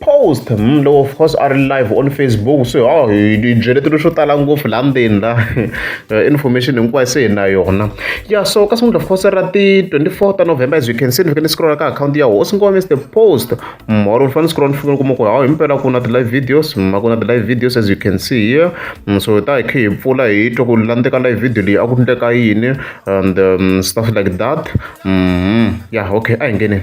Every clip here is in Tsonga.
post mm, loko of course a ri live on facebook so oh, hi byeletelo swo tala ngopfu laha ndzeni la eh, information hinkwayo se hi na yona ya so ka sungula of course ra ti-24 ta november as you can see ni fike ni scrolla ka akhawunti ya hosi ngoma mr post moro ni fane ni scrolla ni fike ni kuma ku hawu himpela ku na ti-live videos ma ku na ti-live videos as you can see here mm, so ta hi khe hi pfula hi twa ku landzeka live video leyi a ku endleka yini and um, stuff like that mm -hmm. ya yeah, okay a hi ngeneni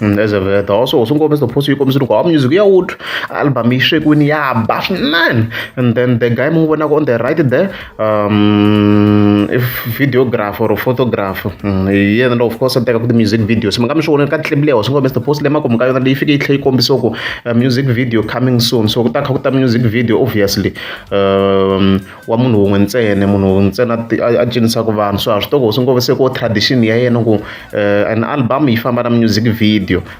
Mm, as a that also also kombisa the post yi kombisa loko a music ya wood album yi swekiwini ya ba swinene and then the guy mi n'wi vonaka on the right there um, videographer or photographer mm, hi yena lowu of course a tekaku ti-music videos mi nga mi swi voneni ka ti-clip leyi hoxingo mr post leyi makumu ka yona leyi fike yi tlhe yi kombisa ku uh, music video coming soon so ku ta kha ku ta music video obviously um, wa munhu wun'we ntsene munhu wun'we ntsena a cinisaka vanhu so a swi toko hoxingo se ku tradition ya yena ku uh, an album yi famba na music video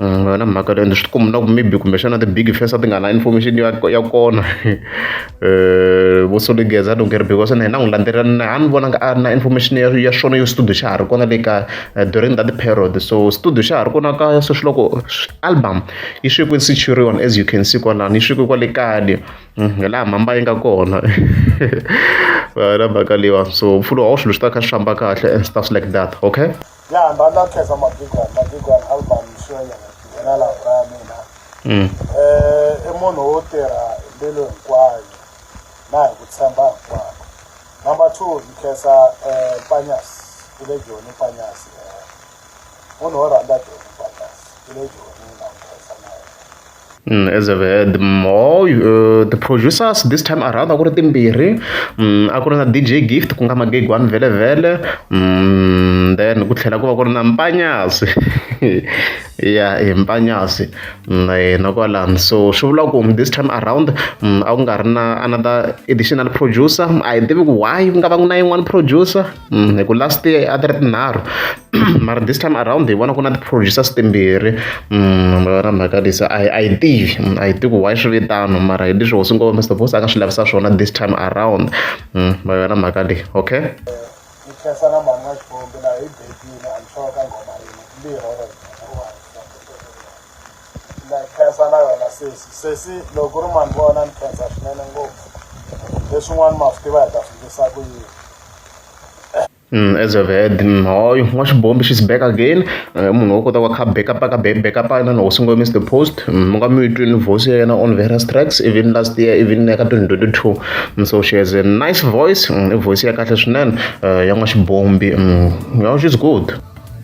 Mm, na mhaka leyo swi tikumbi na ku maybe kumbexana ti-big fesa ti nga na information ya ya kona um vo soligeza lungeri because na hina n'wi landzelela na ha ni vonanga a ri na information ya ya swona yo studio xa ha ri kona le kaya eh, during that period so studio xa ha ri kona kaya sweswi loko album yi swekiwe securion as you can see kwalani yi swekiwe kwale kaya le mm, hi laha mhamba yi nga kona na mhaka leyiwa so mpfulo wa swilo swi ta kha swi famba kahle and stuff like that okay ya hamba a khensa mabigwana mabigwana album swi ya nyana nghena laha ka ya mina um i munhu wo tirha hi mbilu hinkwayo na hi ku tshemba hinkwako number two ni khensa um panyas i le joni panyas um munhu wo rhandza joni panyas i le joni Mm, as a the more uh, the producers this time around a ku ri timbirhi mm, a ku ri na dj gift ku nga magegwani vhele vhele mm, then ku tlhela ku va ku ri na mpanyasi ya hi mpanyasi na kwalani so swi vula ku this time around a ku nga ri na another additional producer a hi tivi ku why ku nga va ku na yin'wana producer Mm, hi ku last year a ti ri tinharhu mara this time around hi vona ku na ti-producers timbirhi mm, vona mhaka lisa a a yi tivi mm, a yi tivi ku why swi vitano mara hi leswi hosi ngoma mr boss a nga swi lavisa swona this time around va yona mhaka leyi okay ni khensa na mhani wa xikombi laha hi bebile a ni hloko ka ngoma yini mbirhi na khensa na wena sesi sesi loko ku ri mani vona ni khensa swinene ngopfu leswin'wana ma swi tiva hi ta swi ndlisa ku yini Mm, as I've heard, mm, hoy, wash bomb, she's back again. Eh, munhu wo kota wakha backup aka backup yena no singo miss the post. Mm, Munga mi twini voice yena on various tracks even last year even eka 2022. Mm, So she has a nice voice, mm, i voice ya kahle swinene. Eh, Ya wash bomb, mm, yeah, she's good.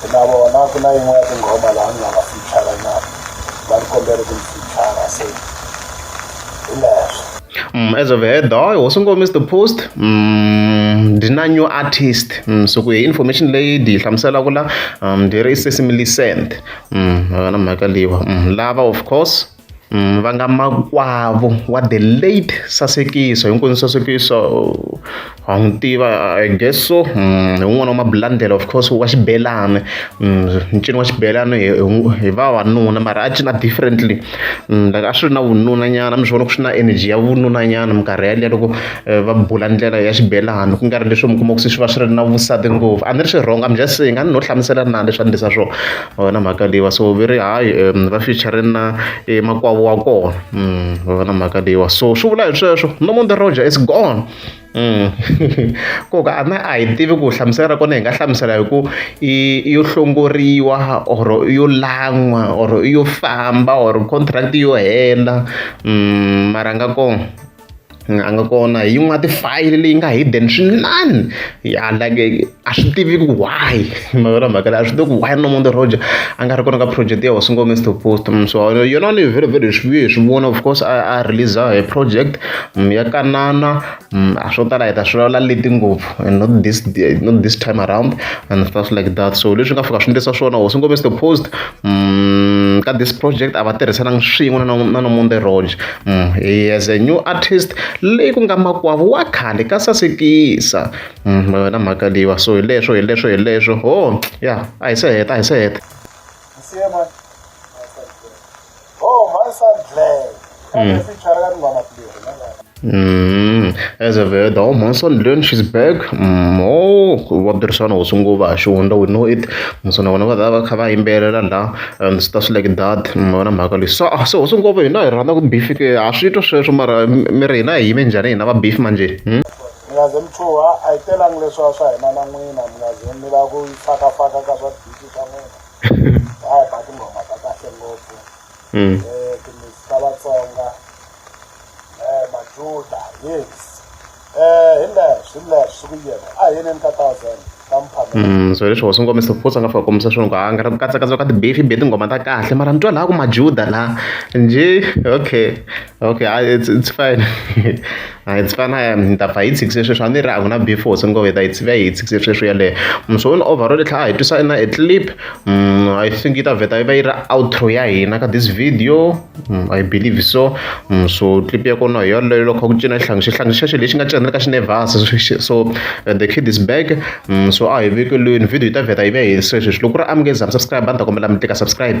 ku na vona ku na yin'we ya tinghoma laha ni nga va fichara na va ni kombele ku ni fichara se hi leswo Mm, as of head dog hosi ngoma is the post mm, ndi na new artist mm, so ku hi information leyi ndi yi hlamuselaka la um, ndi ri sesimilicent mm, yona mhaka leyiwa mm, lava of course va nga makwavo wa the late sasekiso hinkwenu sasekiso wa n'wi tiva i guess so hi wun'wana wa mabulandela of course wa xibelani ncino wa xibelani hi hi vavanuna mara a cina differently like a swi ri na vununa nyana mi swi vona ku swi na energy ya vununa nyana minkarhi yaliya loko va bula ndlela ya xibelani ku nga ri leswi mi kuma ku se swi va swi ri na vusati ngopfu a ni ri swi wrong I'm just saying a ni no hlamusela na leswi a ni swona. Wa vona mhaka leyiwa so ve ri hayi va fichare na emakwavo wa kona wa vona mhaka leyiwa so swi vula hi sweswo Nomonde Roger is gone koka a na a hi tivi ku hlamusela ra kona hi nga hlamusela hi ku i yo hlongoriwa or i yo lan'wa or i yo famba or contract yo hela mara a nga kona. a nga kona hi yin'we ya tifayili leyi nga hidden swinene ya like a swi tiviki why mavona mhaka leyi a swi tivi ku why nomonde roger a nga ri kona ka project ya hosi ngome to post mm, so yona ni very very swi vuye hi swi vona of course a a release hi project mm, ya kanana mm, a swo tala hi ta swi vulavula leti ngopfu and not this not this time around and stuff like that so leswi nga fika swi ndlisa swona hosi ngome to post ka this project a va tirhisananga swin'we na nomonde roger Mm, he as a new artist leyi ku nga makwavo wa khale ka sasekisa mm, ma wena mhaka leyiwa so hi leswo hi leswo hi leswo ho oh, ya a hi se heta a hi se heta Mm, as a very the Monson learn she's back. Mm, oh, what the son was ungo ba shunda we know it. Monson wana va va kha va yimbelela la and swi ta swi like that mi vona mhaka leyi so se hosi ngopfu hina hi rhandza ku beef ke ha swi twa sweswo mara mi ri hina hi yime njhani hina va beef manje hmm? mi nga ze mi chuha a yi telangi leswa swa hina na n'wina mi nga ze mi lava ku fakafaka ka swa bisi swa n'wina a hi ba tinghoma ta kahle ngopfu hmm. eh, timisi ta vatsonga um majuda yes Mm, so leswi hosi nkomiso futhi a nga fika kombisa swona ku a nga ri katsakatsaka ka tibefi be tinghoma ta kahle mara mi twa laha ku majuda la njhe okay okay a it's, it's fine a it's fine a ni ta pfa hi tshikise sweswi a ni ri a ku na beef hosi ngove ta hi tsivya hi tshikise sweswi yaleyo mm, so ni overall tlha a hi twisa na e clip mm, i think yi ta vheta yi va yi ri outro ya hina ka this video I believe so so clip ya kona hi yoleyo loko ku cina xihlangi xihlangi xexo lexi nga cinela ka xinevhasa so the kid is back so a hi vekelweni video yi ta vheta yi ve hi sweswi loko ku ri amukeza subscribe a ni ta kombela mi tlika subscribe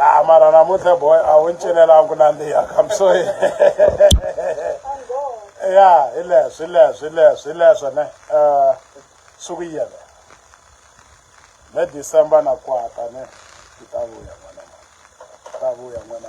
ah mara namuntlha boy a wu ncinelangi nandziha kam so ya hi leswo hi leswo hi leswo hi leswo ne um suku yele ne december na kwata ne ti ta vuya n'wana ta vuya n'wana